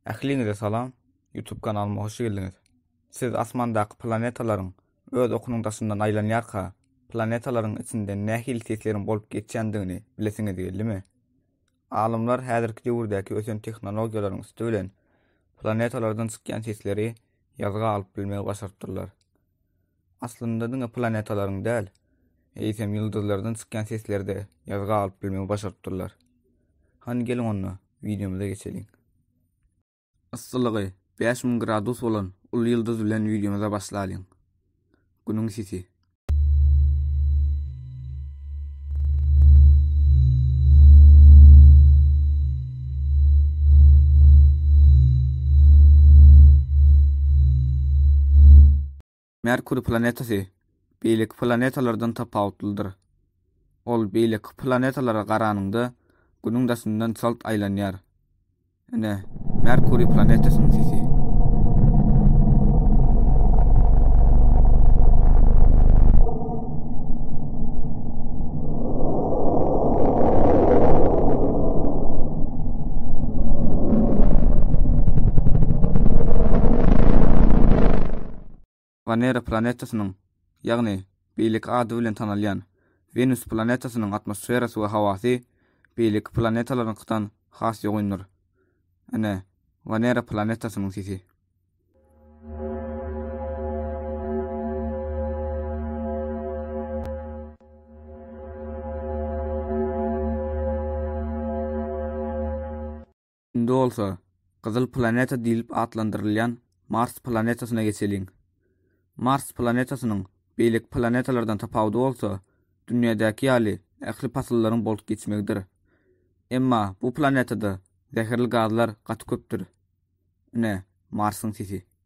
Ähliňize salam! Youtube kanalyma hoş geldiňiz! Siz asmandaky planetalaryň öz okunyň daşyndan aýlanýarka, planetalaryň içinde nähili sesleriň bolup geçýändigini bilesiňiz geldimi? Alymlar häzirki döwürdäki ösen tehnologiýalaryň üsti bilen planetalardan çykýan sesleri ýazga alyp bilmegi başarypdyrlar. Aslynda diňe planetalaryň däl, eýsem ýyldyzlardan çykýan sesleri-de ýazga alyp bilmegi başarypdyrlar. Hany geliň onda, wideomyza geçeliň. Yssylygy bäş müň gradus bolan uly ýyldyz bilen wideomyza başlalyň. Günüň sisi. Merkuriý planetasy beýleki planetalardan tapawutlydyr. Ol beýleki planetalara garanyňda Günüň daşyndan çalt aýlanýar. Ine, Merkuriý planetasynyň sisi. Wanera planetasynyň, ýagny beýleki ady bilen tanalýan Wenus planetasynyň atmosferasy we howasy beýleki planetalaryňkydan has ýogyndyr. Ine, Wanera planetasynyň sisi. Indi bolsa, gyzyl planeta diýlip atlandyrylýan Mars planetasyna geçeliň. Mars planetasynyň beýleki planetalardan tapawudy bolsa, dünýädäki ýaly ähli pasyllaryň bolup geçmegidir. Emma bu planetada zäherli gazlar gaty köpdür. Ine, Marsyň sesi.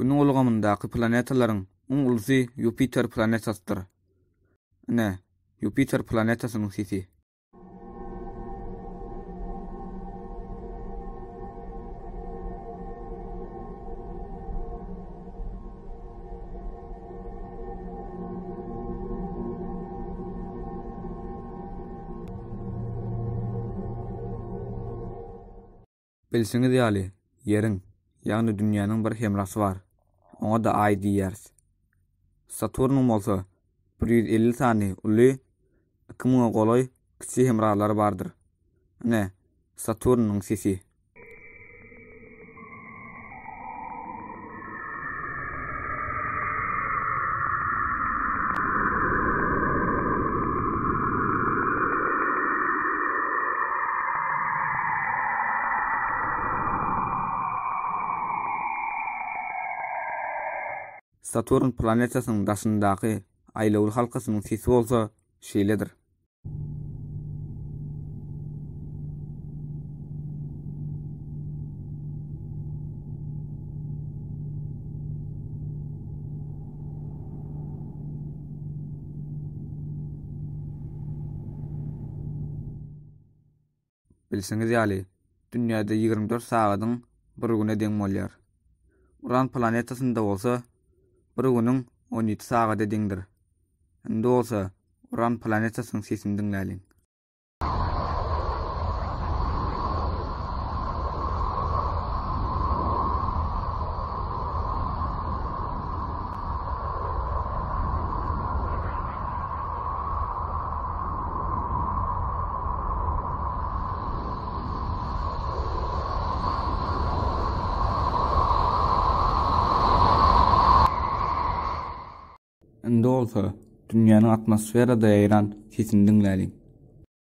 Günüň ulgamyndaky planetalaryň iň ulusy Ýupiter planetasydyr. Ine, Ýupiter planetasynyň sisi. Bilşiňiz ýaly, Ýeriň, ýagny Dünýäniň bir hemrasy bar. Oňa-da Aý diýýäris. Saturnyň bolsa bir ýüz elli sany uly Iki müňe golaý kiçi hemralary bardyr. Ine, Saturnyň sesi. Saturn planetasynyň daşyndaky Aýlawly halkasynyň sesi bolsa şeýledir. Bilşiňiz ýaly, dünýäde ýigrimi dört sagadyň bir güne deň bolýar. Uran planetasynda bolsa, bir günüň on ýedi sagada deňdir. Indi bolsa, Uran planetasynyň sesini diňläliň. Indi bolsa, dünýäniň atmosferada ýaýran sesini diňläliň.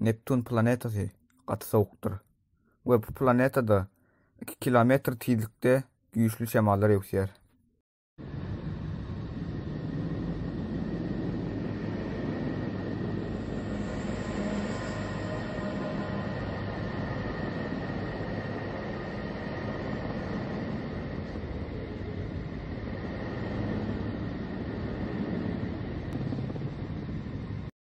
Neptun planetasy gaty sowukdyr we bu planetada iki kilometr tizlikde güýçli şemallar öwüsýär.